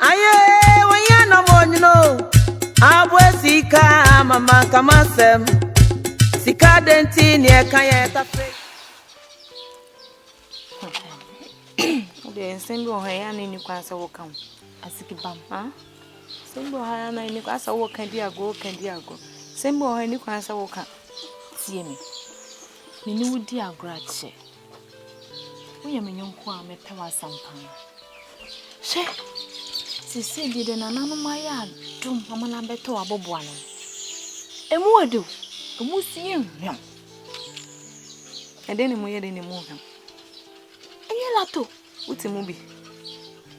Aye, wanya na mo nyino. Abwe sika mama kama sem. Sika denti ni eka ye tafe. Ode nsem bi oha ya ni ni kwanse wo kan. Asiki bam. Ha? Nsem bi oha ya na ni kwanse wo kan di ago, kan di ago. Nsem bi oha ni kwanse wo kan. Tie me. Me ni wo di agrache. Woyɛ me yɔnko a mepɛ w'asɛm paa. Hwɛ, sisi deɛ de nananom ayɛ adom ama no abɛtɔ w'aboboa no. Emu ɔde o, emu so yɛ nhwam. Ɛdɛn na emu yɛ dɛn na emu nhwam? Ɛnyɛ lato, wote mu bi.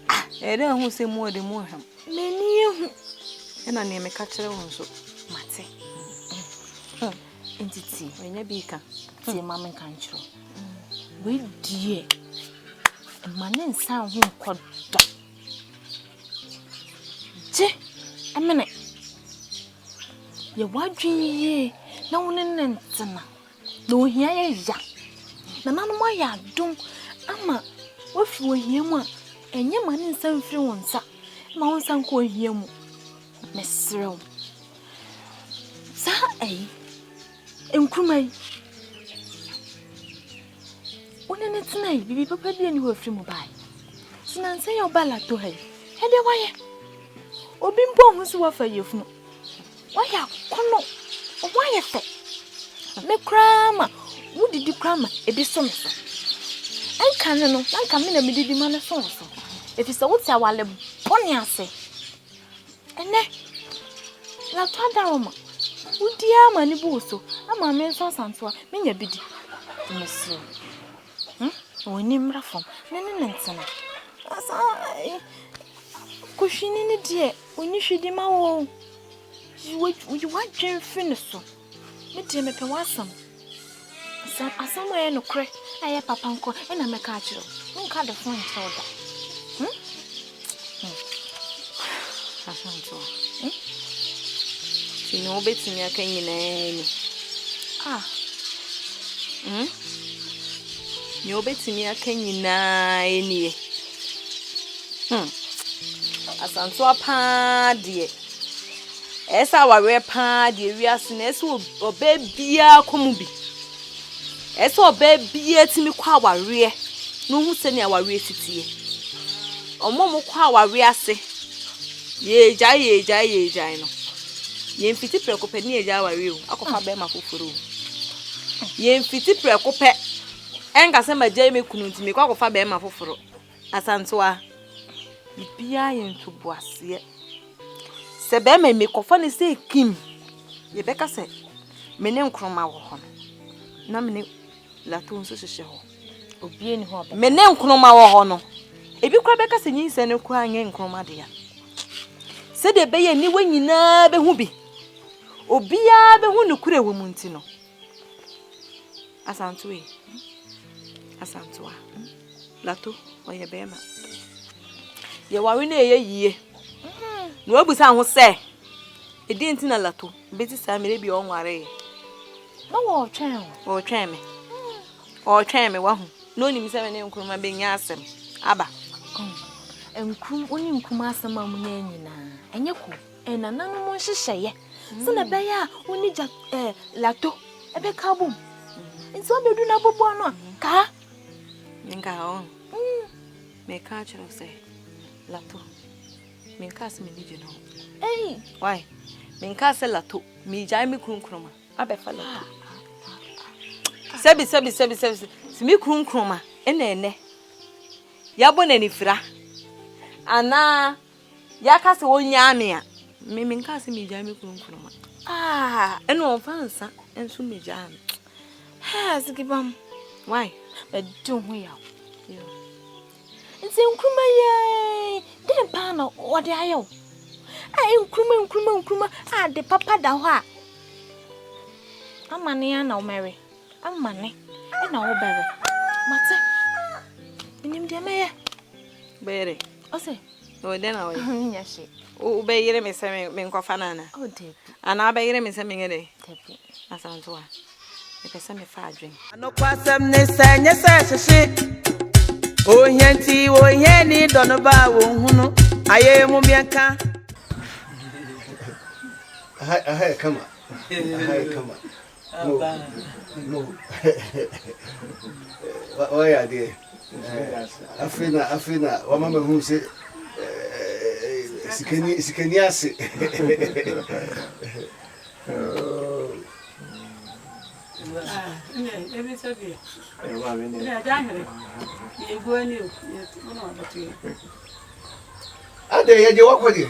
Ah, ɛyɛ dɛ ɛho sɛ emu ɔde mu nhwam. M'ani ehu. Ɛna nea meka kyerɛ wo nso, mate. Hmm. Nti tie, menya bi ka. Tie ma menka nkyerɛ wo. Wei deɛ, mma ne nsa ho nkɔ da. Gye mene. Yɛ w'adwene yie na wo ne ne ntena. Na ohia yɛ ya. Nananom ayɛ adom ama woafi ohia mu a, ɛnyɛ ma ne nsa mfiri wo nsa. Ma wo nsa nkɔ ohia mu. Mesrɛ wo. saa ɛyi nkuruma yi wone ne tena yi biribi papa bi ani hɔ afiri mu bae so nansɛ yɛ woba lato ha yi ɛdeɛ wayɛ obi mpo ho so wafa yɛfunu wayɛ akɔnɔ ɔmo ayɛ fɛ me koraa ma wodidi koraa ma ebi so me so ɛnka no no na nka me na medidi ma no so wo so ɛfiri sɛ wote awale bɔne ase Ɛnnɛ, yɛato adaworoma. Wodi ara ma ne bo woso. Ama me nso asantewa, menya bi di. Mesrɛ wo. Hmm? W'ani mmra fam na ne no ntena. Saa eh, kohwini no deɛ, ɔnni hwidi ma wo. Yi w'adwene fi ne so. Me deɛ mepɛ w'asɛm. Sɛ asɛm a ɛyɛ nokorɛ a ɛyɛ papa nko a ɛna mɛka akyerɛ wo. Menka de fo nkyerɛ wo da. Hmm? Hmm. Asɛm nkyerɛ wo. Hmm? Ti ne wobɛtumi aka nyinaa ni. Ah. Hmm? Nea wobɛtumi aka nyinaa nie. Hmm. Asantoa paa deɛ. Ɛyɛ sɛ awareɛ pa ara deɛ wiase no, ɛyɛ sɛ ɔbaa biara kɔ mu bi. Ɛyɛ sɛ ɔbaa biara tumi kɔ awareɛ na ɔhu sɛnea awareɛ si teɛ. Wɔn a wɔkɔ awareɛ ase, yɛregyae yɛregyae yɛregyae no, yɛmfiti prɛko pɛ ne yɛgya awareɛ o, akɔfa ah. bɛrima foforɔ o. Yɛmfiti prɛko pɛ ɛnka sɛ magyae me kunu nti mekɔ akɔfa bɛrima foforɔ. Asantewaa, biribiara yɛ ntoboaseɛ. Sɛ bɛɛma yi mekɔfa no sɛ kim, yɛbɛka sɛ me ne nkroma wɔ hɔ no, na me ne lato nso hyehyɛ hɔ. Obie ni hɔ bɛ. Me ne nkroma wɔ hɔ no, ebi kora bɛka sɛ nyinsɛ no kora nyɛ nkroma dea. Sɛdeɛ ɛbɛyɛ niwa nyinaa bɛhu bi, obiara bɛhu no kura wɔ mu nti no, Asantoe, Asantoa, Lato, ɔyɛ bɛrima. Yɛware no ɛyɛ yie. Na wabisa ho sɛ, ɛdi nti na Lato bɛsi saa mmerɛ bi ɔnwaree. Na wɔretwɛn o. Wɔretwɛn me. Wɔretwɛn me wahu. Na onim sɛ me ne Nkrumah bɛnya asɛm. Aba. Nkrumah, wo ne Nkrumah asɛm a mo nyɛ nyinaa, ɛnyɛ ko. Ɛnananom nhyehyɛeɛ sɛdeɛ ɛbɛyɛ a wo ne gya ɛɛ lato ɛbɛka abom nti ɔbɛdu na aboboa no a kaa. menka ɔho mm. meka akyerɛ wo sɛ lato menka sɛ m'ani gye no ho ei wai menka sɛ lato megyae me kunu nkroma abɛfa lato sɛbi sɛbi sɛbi sɛbi sɛ me kunu nkroma ɛna ɛnɛ yɛabɔ n'anifira anaa Yɛaka sɛ ɔnyaa me a, me menkaa sɛ megyaa me kunu nkoroma. Ah, ɛna ɔmfa nsa nso megyaa me. Hɛ, sikibam. Why? Mɛdi ho yaw. Nti nkuruma yɛn, dɛn paa na ɔde ayɛ wo? A nkuruma nkuruma nkuruma a de papa da hɔ a. Amane ya na ɔmɛwe. Amane ɛna ɔbɛwe. Mate. Menim deɛ mɛyɛ. Bɛyere. Ɔsɛ. Ɔwɔ dɛ na ɔyɛ. Ɔnyɛ nya hye. Wobɛyere me sɛ me nkɔfa no ana? Oh dabi. Ana wobɛyere me sɛ menyɛ dɛ? Dabi. Asanto a. Mepɛ sɛ mefa adwen. Anokwasɛm ne sɛ nyɛ sɛ hyehye. Ohia nti ohia ni dɔ no ba a wɔnhunu ayɛ mu miɛnka. Aha aha yɛ kama. Aha yɛ kama. wayɛ adeɛ afei na afei na wama ma hu sɛ sikani sikani ase adɛ yɛgye wakɔ deɛ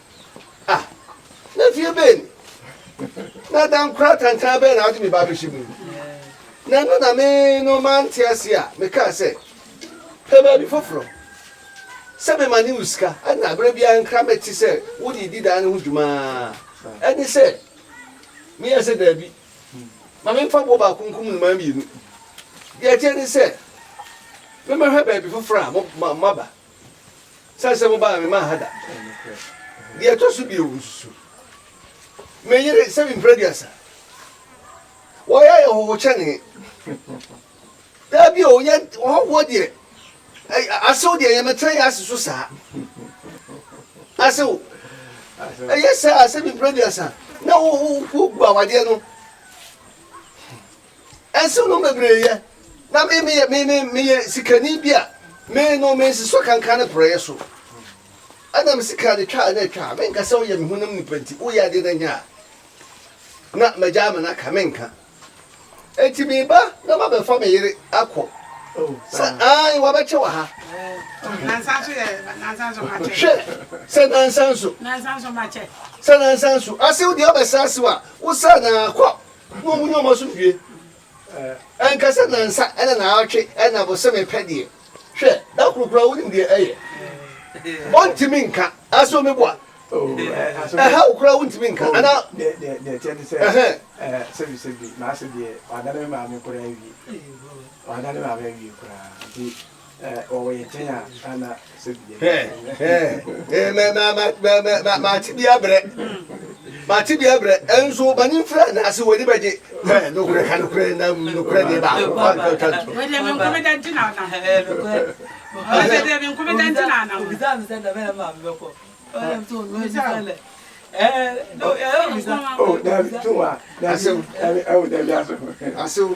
Ah, na fie bɛn ni? Na dan kora tantan bɛn na wode me ba bɛhyɛ mu? Na ɛno na me no mante ase a mekaa sɛ, pɛ baabi foforɔ sɛ mema ne wo sika na berɛ biara nkra mɛte sɛ wode di dan no ho dwumaa ɛne sɛ meyɛ sɛ daabi ma memfa boɔ baako nkum nnomaa mmienu deɛ ɛteɛ ne sɛ memɛhwɛ baabi foforɔ a maba Sane sɛ mobaa me maa ha da. Deɛ ɛtɔ so bio, nsusu me yere sɛ mempira aduasa. Wɔyɛ ayɛ hɔho kyɛne. Dabi o, yɛ ɔhɔhoɔ deɛ, asew deɛ yɛmɛtena yɛ ase so saa. Asew, ɛyɛ saa sɛ mempira aduasa na wogu awadeɛ no. Nsenom bebree yɛ, na me meyɛ me me meyɛ sikani bi a me no me nsesɔ kankan ne porɔeɛ so. Ɛna me sika de twa na ɛtwa a menka sɛ woyɛ me honam nipa nti woyɛ adeɛ na nyɛ a na magya ama no aka menka. Enti meba na mabɛfa me yere akɔ sɛ ae wabɛkyɛ wɔ ha. Hwɛ sɛ nansa nso sɛ nansa nso asew deɛ ɔbɛsa asew a wosa na akɔ Na wɔn mu nneɛma so wie. Ɛnka sɛ nnansa ne naawɔtwe ne abosome pɛ deɛ, hwɛ, da koro koraa wonim deɛ ɛyɛ? Wɔntumi nka. Ase omi boa. Ɛha wo koraa wontumi nka. Ana? Deɛ ɛteɛ ne sɛ, sɛbisɛbi, maase deɛ, wɔadane me maame koraa awie. Wɔadane maame awie koraa. Nti. mate bi abrɛ mate bi abrɛ ɛnso mani mfra na ase w'ani bɛgye nokorɛ ka nokorɛ na nokorɛ deɛ baako asew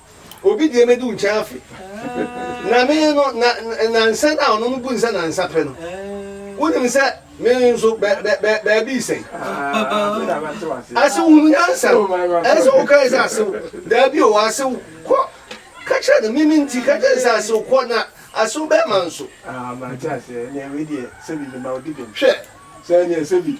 Obi deɛ mɛdi wo nkyɛn afe. Na me no, na nansa no a ɔno no bu nsɛ nansa pɛ no. Wonim sɛ me nso baabi sɛn. Asew hunu nyansa. Ɛsɛ wo kae sɛ asew. Daabi o, asew kɔ. Ka kyerɛ no mimi nti ka kyerɛ sɛ asew kɔ na asew bɛrima nso. Hwɛ. Sɛ ɛnyɛ sɛ bi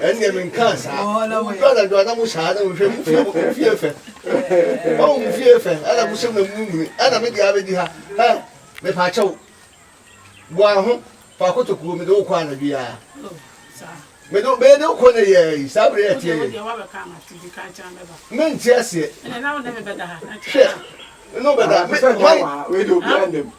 ɛnneɛ menkaa saa wodu anadwo a na mo saa na wohwɛ mo fie mo fie fɛ ɔhu mo fie fɛ ɛna mo sɛm na munimuni ɛna mede abɛdi ha hɛ mepa akyɛw boa ho fa kotokuo mede wokɔ anadwo yi a mede bɛyɛ de wokɔ ne yɛ yi saa bere ɛteɛ yɛ mente aseɛ hwɛ ne wobɛda hwan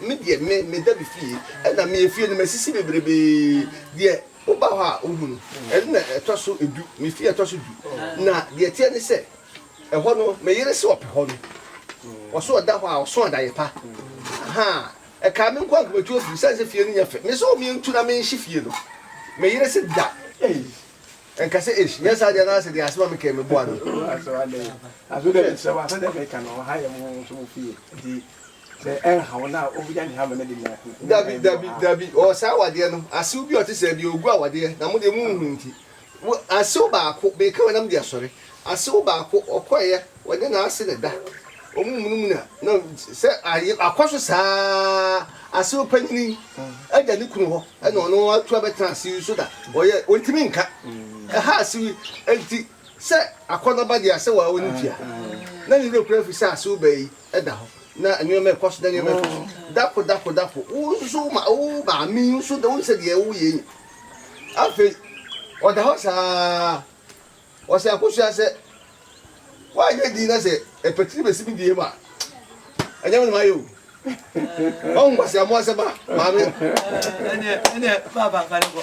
Me deɛ me meda me fie ɛna me efie no masisi bebrebee deɛ woba hɔ a wohu no ɛno na ɛtɔ so du me fie ɛtɔ so du na deɛ ɛteɛ ne sɛ ɛhɔ no me yere se ɔpɛ hɔ no ɔso ɔda hɔ a ɔso adaeɛ pa ahaa ɛkaa me nko a nka matu afiri sane sɛ fie no nyɛ fɛ me sɛ ɔmentu na menhye fie no me yere se da ei ɛnka sɛ esh nyɛ saa deɛ na asɛ deɛ asɛm a mekae meboa no. Sɛ ɛnha wo no a, wobɛnya ne hamɛ no de nya nkunim. Dabi, dabi, dabi, ɔwɔ saa awadeɛ no. Asew bi a ɔte saa biara, ɔgu awadeɛ, na mo deɛ monhunu nti. Wo, asew baako, meka wei na mede asɔre, asew baako, ɔkɔeɛ, ɔnyɛ n'ase na ɛda, wɔmunumuna, na sɛ ayɛ, akɔ so saa ara, asew panyini yi agya ne kunu hɔ, ɛna ɔno atu abɛtena asew yi so da, ɔyɛ, ɔntumi nka. Ɛha asew yi, enti sɛ akɔnnɔ ba deɛ a, sɛ wawo ne fie a, na ne werɛ kura fi sɛ asew baa yi. da hɔ na nneɛma ɛkɔ so na nneɛma ɛkɔ so dako dako dako wo nso wo ma wo maame nso da wo nsɛ deɛ wo yɛ yi afei ɔda hɔ saa ɔsɛ akosua sɛ woanyɛ din na sɛ ɛpɛtiri bɛsi bi bie mu a ɛnyɛ me ne mayɛ o ɔhu nkwaseamoa sɛ ba maame ɛneɛ ɛneɛ baabaakane kɔ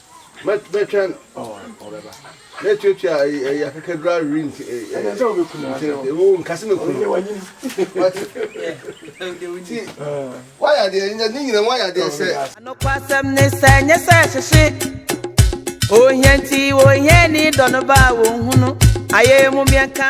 mɛtwɛn ɔbɛba mɛtuatua ɛyɛ akakadura wiri nti ɛwɔ nkase mɛ kunu ti wayɛ adeɛ ne nyina wayɛ adeɛ sɛ. anokwasɛm ne sɛ nyɛ sɛ hyehye ohia nti ohia ni dɔ no ba a wɔnhunu ayɛ mu mmiɛnka.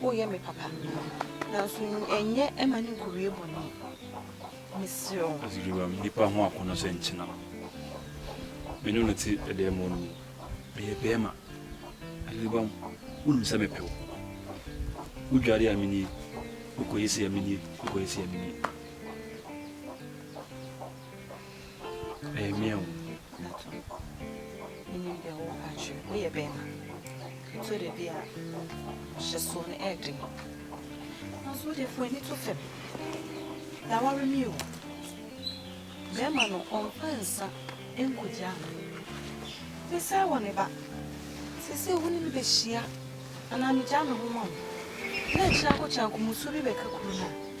Woyɛ me papa, nanso nyɛ mma no nkowie bɔne, mesrɛ wo. Asubiriwam nipa ho akɔnnɔ sɛ nkyena. Me ne no te dan mu no, meyɛ barima. Asubiriwam, wonim sɛ mepɛ wo. Wodware a menie, wokɔyɛ sei a menie, wokɔyɛ sei a menie. Ɛyɛ mea o. Nathan kɔ. Menim deɛ woreka akyerɛ me. Woyɛ bɛrima. So dabi a hyɛsoɔ no ɛyɛ den. Nanso wodeɛ fa w'ani to fam. Yɛaware me o. Bɛrima no ɔmfa nsa nkɔgyaa me. Mesɛe wɔ ne ba. Seesei wo ne me bɛhyia anaa megyaa me ho ma wo na akyire akɔkyɛ ankomusuo bi bɛka kuro no a.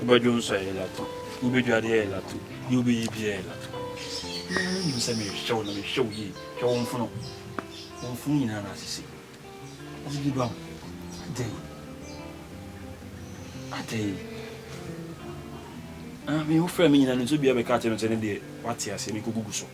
Wobɛdwo nso a, ɛyɛ latu. Wubedwa ade a, ɛyɛ latu. Nea wubɛyɛ biara yɛ latu. Wo ara nim sɛ mehwehwɛ wo na mehwehwɛ wo yie. Hwɛ wo mfono. Wo mfono nyinaa na asisi. Adidi ba ho. Adɛn? Adɛn? Ah, me wofrɛɛ me nyinaa no nti obiara bɛkaa kyerɛɛ me sɛ ne deɛ wate aseɛ, menkɔgugu so.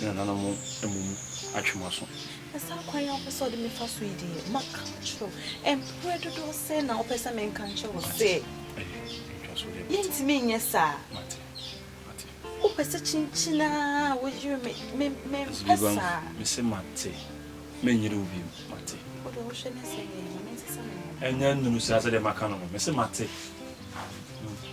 ne nananom mmom atwe mo aso. Na saa kwan a wopɛ sɛ ɔde me fa so yi deɛ maka kyerɛw mprɛ dodoɔ sɛ na wopɛ sɛ menka nkyerɛ wo sɛ yɛntumi nyɛ saa wopɛ sɛ kyinkyin a woyere me mempɛ saa mese mate menyere wo biom mate wode wohwɛ ne sɛ yɛ ɛnyɛ nnuru saa sɛdeɛ maka no no mese mate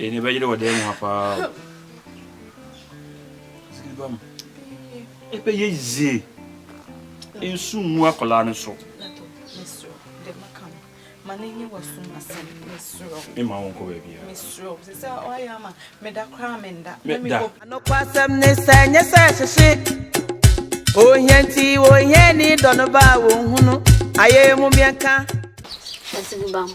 Ɛnɛ bɛyere wɔ dan mu ha paa o. Sikiri ba mu. Ebe ye zie. Nsu ngu akwadaa no so. Mma wɔn kɔ baabi a. Meda. Anokwasɛm ne sɛ nyɛ sɛ hyehye ohia nti ohia ni dɔ no ba a wɔnhunu ayɛ mu mmiɛnka. Ɛsɛ bi ba mu.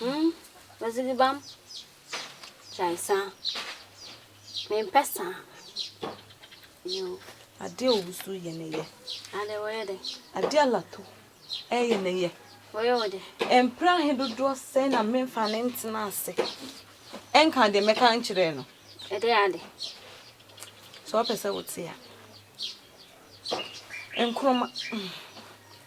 Hmmm odzi bi bam gyae saa mempɛ saa yoo. Adeɛ owusu yɛ ne yɛ. Adɛ wɔyɛ dɛ. Adeɛ alato ɛyɛ ne yɛ. Wɔyɛ wo dɛ. Mprɛ ahe dodoɔ sɛn na menfa no ntena ase nka deɛ mɛka nkyerɛ no. Ɛdɛ ade. Sɛ ɔpɛ sɛ wote a. Nkroma.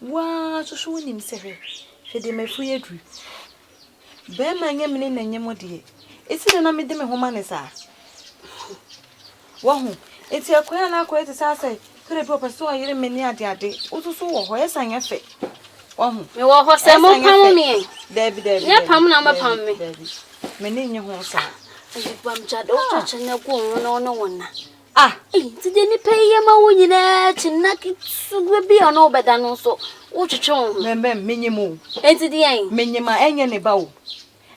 Wo ara nso so wonim sɛ, Hwɛ, hwɛ deɛ m'afuo yi aduru. Barima nyɛ mene na nyɛ mo deɛ, ɛsi dɛn na mede me ho ma ne saa? Wahu? Enti akɔyɛ a na akɔyɛ te sɛ asɛ, kra bi ɔpɛ sɛ ɔyere me ne adeade. Wo nso so wɔ hɔ, ɛsan nyɛ fɛ. Wahu? Mewɔ hɔ sɛ mo pam me. Daabi, daabi. Nyɛ pam na mo pam me. Daabi. M'ani nye ho saa. Ayi bam gya de wotwa kyɛ na gu wɔn ho na wɔne wɔn na. Ah, ei, nti deɛ nnipa yi yɛ ma wo nyinaa akyi nna ketewa bi a ɔne wo bɛda no nso wotwetwe wo ho. Mɛmɛm, menyim o. Nti deɛn? Menyim a ɛnyɛ ne ba o.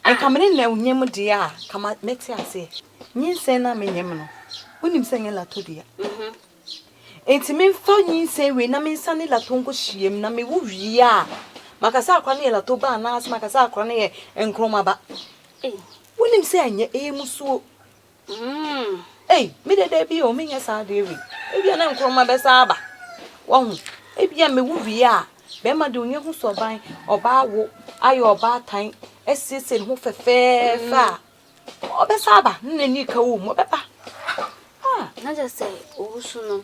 Nka me ne no nyim deɛ a, nka mɛte aseɛ. Nyinsɛn no a menyim no, wonim sɛ ɛnyɛ latɔ dua. Nti memfa nyinsɛn wei na mensa ne latɔ nkɔhyia mu na mewo wie a, maka sɛ akora no yɛ latɔ ba anaasɛ maka sɛ akora no yɛ nkrɔma ba. Wonim sɛ ɛnyɛ, ɛyɛ musuo. Mm, ei, me de dabi o, menyɛ saa adeɛ wei. Ebia na nkorɔma bɛsa aba. Wahu, ebia mewu wie a, bɛrima de onye ho sɔban, ɔbaa wo, ayɛ ɔbaatan, asiesie ne ho fɛfɛɛfɛ a, ɔbɛsa aba, ne n'ani ka wo mu, ɔbɛba. Ah. Na kyerɛ sɛ owusu no,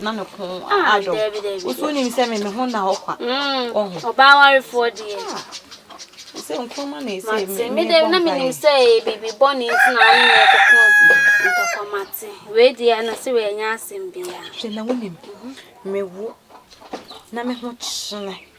na me ko adɔ woso nim sɛ me me ho na hɔ kwa ɔho ɔbaa warefoɔ deɛ sɛ nkuruma na ɛsɛ mate me dɛ na menim sɛ biribi bɔ ne nti na ane na ɛkoko ntɔkwa mate wei deɛ na sɛ wɔanya asɛm bia hwɛ na wonim mewo na me ho kyene